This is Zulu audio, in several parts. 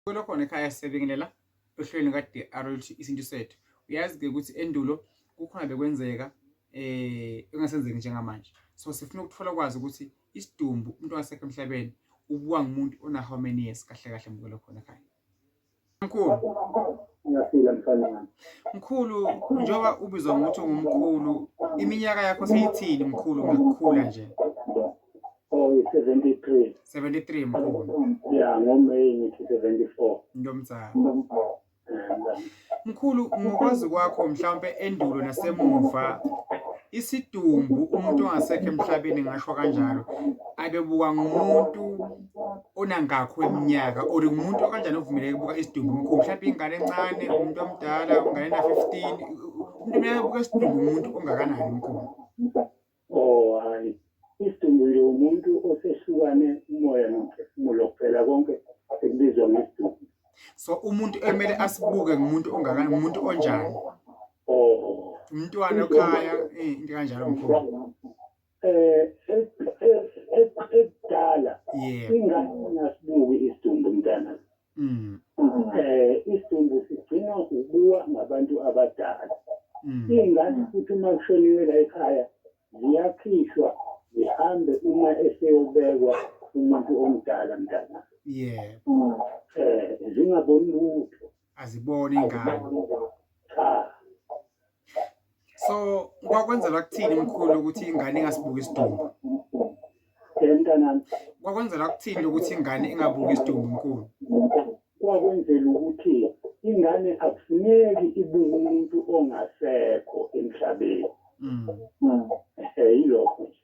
Kulo khona ekhaya siyabingelela ohlelweni luka-DR oluthi isintu sethu. Uyazi-ke ukuthi endulo kukhona bekwenzeka eh engasenzeki njengamanje. So sifuna ukuthola kwazi ukuthi isidumbu umuntu wasekho emhlabeni ubuwa ngumuntu ona how many years kahle kahle mukelo khona ekhaya. Mkhulu. Ngiyaphila mfana wami. Mkhulu njengoba ubizwa ngokuthi ungumkhulu iminyaka yakho seyithini mkhulu ngokukhula nje? oyi-73 73 mkhulu ya ngomeyi ngithi 74 ntomzana mkhulu ngokwazi kwakho mhlawumpe endulo nasemuva isidumbu umuntu ongasekho emhlabeni ngasho kanjalo abebuka ngumuntu onangakho eminyaka or ngumuntu okanjani ovumeleke ukubuka isidumbu mkhulu mhlawumpe ingane encane umuntu omdala ungane na-15 umuntu uyabuka isidumbu umuntu ongakanani mkhulu Oh hayi, isidumbu nje umuntu osehlukane umoya nomphefumulo kuphela konke sekubizwa ngesidumbu. So umuntu emele asibuke ngumuntu ongakanani, ngumuntu onjani? Oh. Umntwana okhaya, eh into kanjalo mkhulu. Eh ekudala ingane ngasibuki isidumbu mntana. Mm. Eh isidumbu sigcinwa ubuwa ngabantu abadala. Mm. Ingane futhi uma kushoniwe la ekhaya ziyakhishwa zihambe uma eseyobekwa umuntu omdala mntana. Yebo. Eh zingaboni lutho. Aziboni ingane. Cha. so kwakwenzela kuthini mkhulu ukuthi ingane ingasibuki isidumbu kwakwenzela kuthini ukuthi ingane ingabuki isidumbu mkhulu kwakwenzela ukuthi ingane akufuneki ibuke umuntu ongasekho emhlabeni mm. mm. eh, yilokho nje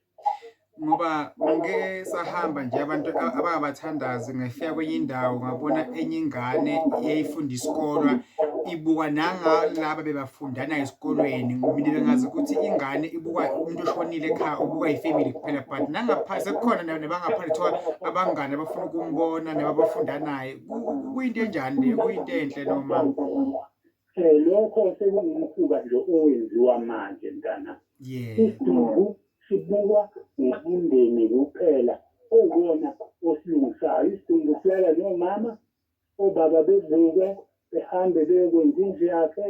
ngoba ngike sahamba nje abantu abangabathandazi ngafika kwenye indawo ngabona enye ingane eyayifunda isikolwa ibukwa nangalaba bebafundana esikolweni mina bengazi ukuthi ingane ibukwa umuntu oshonile ekhaya ubukwa yifamily kuphela but nangaphansi sekukhona nabangaphansi kuthiwa abangane abafuna ukumbona nababafunda naye kuyinto enjani leyo kuyinto enhle noma um lokho sekungumkhuba nje owenziwa manje mntana isiduku sibukwa ngumndeni kuphela owona osilungisayo isiduku silala nomama obaba bevuke behambe beyokwenza indlu yakhe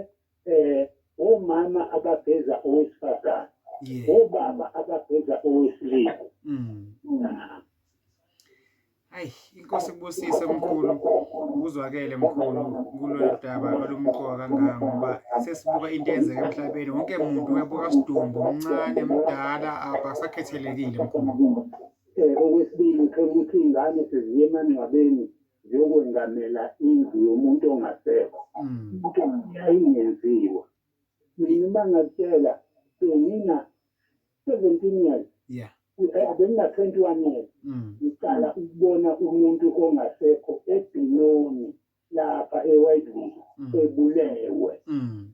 um omama abageza owesifazane obaba abageza owesilisa mm. Ayi inkosi kubusise mkhulu kuzwakele mkhulu kulolu daba olumqoka kangaka ngoba sesibuka into eyenzeka emhlabeni wonke muntu uyabuka sidumbu mncane mdala abasakhethelekile mkhulu eh, okwesibili uthola ukuthi iy'ngane seziye emangcwabeni ziyokwengamela indlu yomuntu ongasekho mm. into yayingenziwa mina uma ngakutshela senina 17 years yeah abengina 21 years mm. ngiqala ukubona umuntu ongasekho ebhinoni lapha eWhitewood mm. ebulewe mm.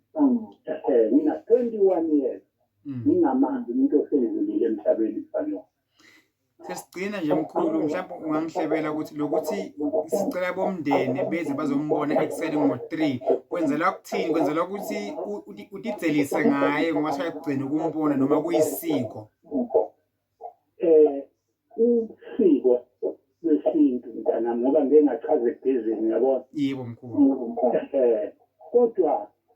eh, ngina 21 years ngingamanzi umuntu osedlulile emhlabeni kufanele sesigcina nje mkhulu mhlawumbe ungangihlebela ukuthi lokuthi sicela bomndeni beze bazombona ekuseni ngo-three kwenzelwa kuthini kwenzelwa ukuthi utidzelise ngaye ngoba sayakugcina ukumbona noma kuyisiko um usiko lwesintu mntana ngoba ngike ngachaza ebhezini yabona yebo mkhulu um kodwa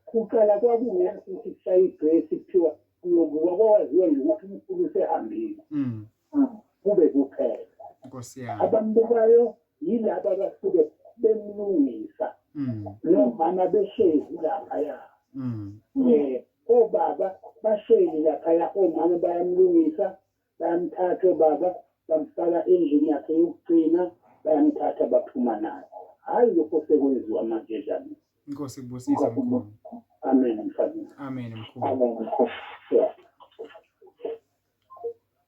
kuqala kwakungeya ukuthi kushaya idresi kuthiwa uyobuka kwawaziwe ngokuthi umkhulu usehambile mm. mm. kube kuphela nkosi yami abambukayo yilaba abasuke bemlungisa mm. nomama behlezi laphaya um obaba bahleli laphaya omama bayamlungisa bayamthatha ubaba bamfaka endlini yakhe yokugcina bayamthatha baphuma naye hhayi lokho sekwenziwa manje dlamini inkosi kubusisa mkhulu amen mfana amen mkhulu amen mkhulu yeah.